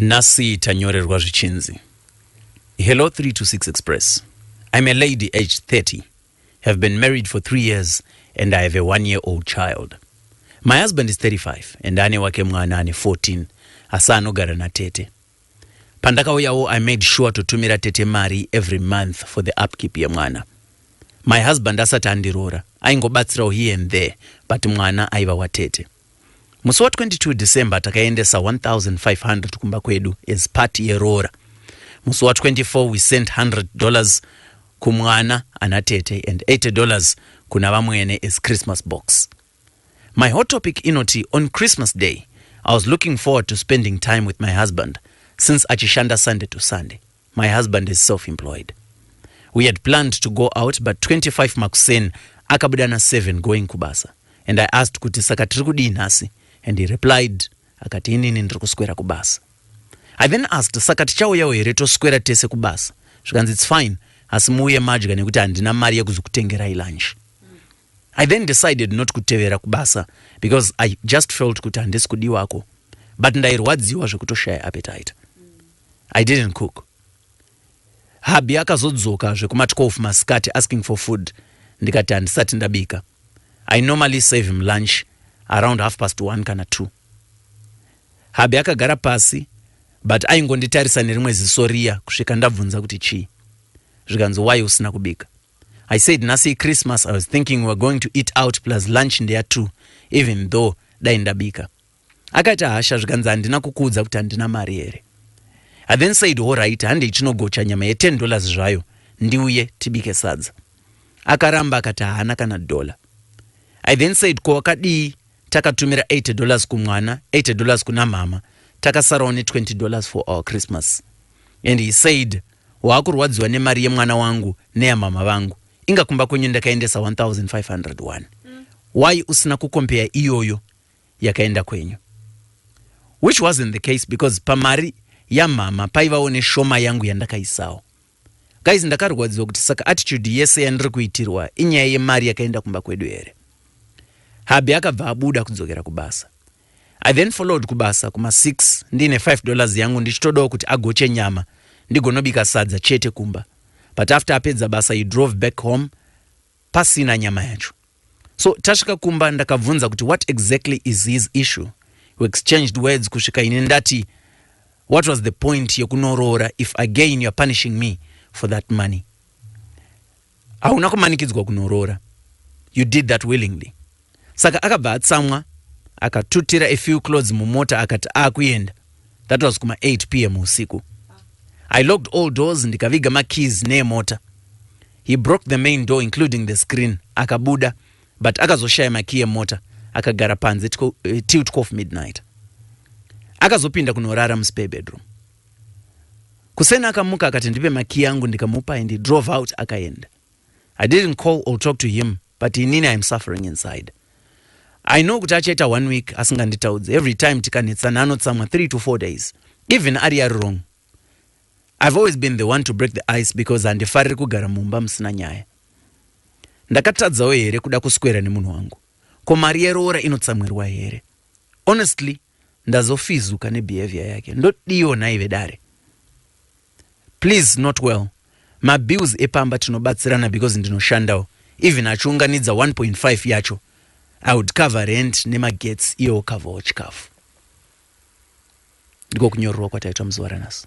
Nhasi tanyorerwa zvichinzi Hello 3 to 6 Express. I'm a lady aged 30, have been married for 3 years and I have a one year old child. My husband is 35 and ane wake mwana ane 14 asi anogara natete. Pandakauyawo I made sure to tumira tete mari every month for the upkeep yemwana. My husband asati andiroora aingobatsirawo here and there but mwana aiva watete. Musi wa 22 December takaendesa 1500 kumba kwedu as part yeroora. Musi wa 24 we sent 100 dollars kumwana ana tete and 80 dollars kuna vamwene as Christmas box. My hot topic inoti on Christmas day I was looking forward to spending time with my husband since achishanda Sunday to Sunday. My husband is self employed we had planned to go out but 25 makuseni akabuda na 7 going kubasa and I asked kuti saka tiri kudii nhasi and he replied akati inini ndiri kuswera kubasa I then asked saka tichauyawo here toswera tese kubasa zvikanzi it's fine asi muuye madya nekuti handina mari yekuzokutengerai lunch I then decided not kutevera kubasa because I just felt kuti handisi kudiwako but ndairwadziwa zvekutoshaya appetite I didn't cook. Hubby akazodzoka zvekuma 12 masikati asking for food ndikati handisati ndabika. I normally serve him lunch around half past one kana two. Hubby akagara pasi but aingonditarisa nerimwe ziso riya kusvika ndabvunza kuti chii. Zvikanzi why usina kubika? I said nhasi iChristmas I was thinking we were going to eat out plus lunch ndeya two even though dai ndabika. Akaita hasha zvikanzi handina kukuudza kuti handina mari here. I then said horaiti handei tinogocha nyama ye 10 dollars zvayo ndiuye tibike sadza. Akaramba akati haana kana dollar. I then said ko wakadii takatumira 80 dollars kumwana 80 dollars kuna mhama takasarawo ne 20 dollars for our Christmas and he said waakurwadziwa nemari yemwana wangu neyamhama vangu inga kumba kwenyu ndakaendesa 1501 why usina kukompeya iyoyo yakaenda kwenyu which wasn't the case because pamari yamhama paivawo neshoma yangu yandakaisawo guys ndakarwadziwa kuti saka attitude yese yandiri kuitirwa inyaya yemari yakaenda kumba kwedu here habi akabva abuda kudzokera kubasa i then followed kubasa kuma 6 ndiine 5 dollars yangu ndichitodawo kuti agoche nyama ndigonobika sadza chete kumba but after apedza basa he drove back home pasina nyama yacho so tasvika kumba ndakabvunza kuti what exactly is his issue we exchanged words kusvika ini ndati what was the point yekunoroora if again youare punishing me for that money hauna kumanikidzwa kunoroora you did that willingly Saka akabva atsamwa akatutira a few clothes mumota akati akuyenda. That was kuma 8 pm husiku. I locked all doors ndikaviga ma keys neemota. He broke the main door including the screen akabuda but akazoshaya ma key emota akagara panze tiko, uh, eh, till 12 midnight. Akazopinda kunorara muspare bedroom. Kuseni akamuka akati ndipe makiyi angu ndikamupa and he drove out akayenda. I didn't call or talk to him but inini I am suffering inside. I know kuti achaita one week asinganditaudzi every time tikanetsana anotsamwa three to four days even ari ari wrong. I've always been the one to break the ice because handifariri kugara mumba musina nyaya. Ndakatadzawo here kuda kuswera nemunhu wangu? Ko mari yeroora inotsamwirwa here? Honestly, ndazofizuka nebehavior yake ndodiiwo nhai vedare please not well mabills epamba tinobatsirana because ndinoshandawo even achiunganidza 1.5 yacho i would cover rent nemagets iye wocoverwo chikafu ndiko kunyorerwa kwataitwa muzuva ranhasi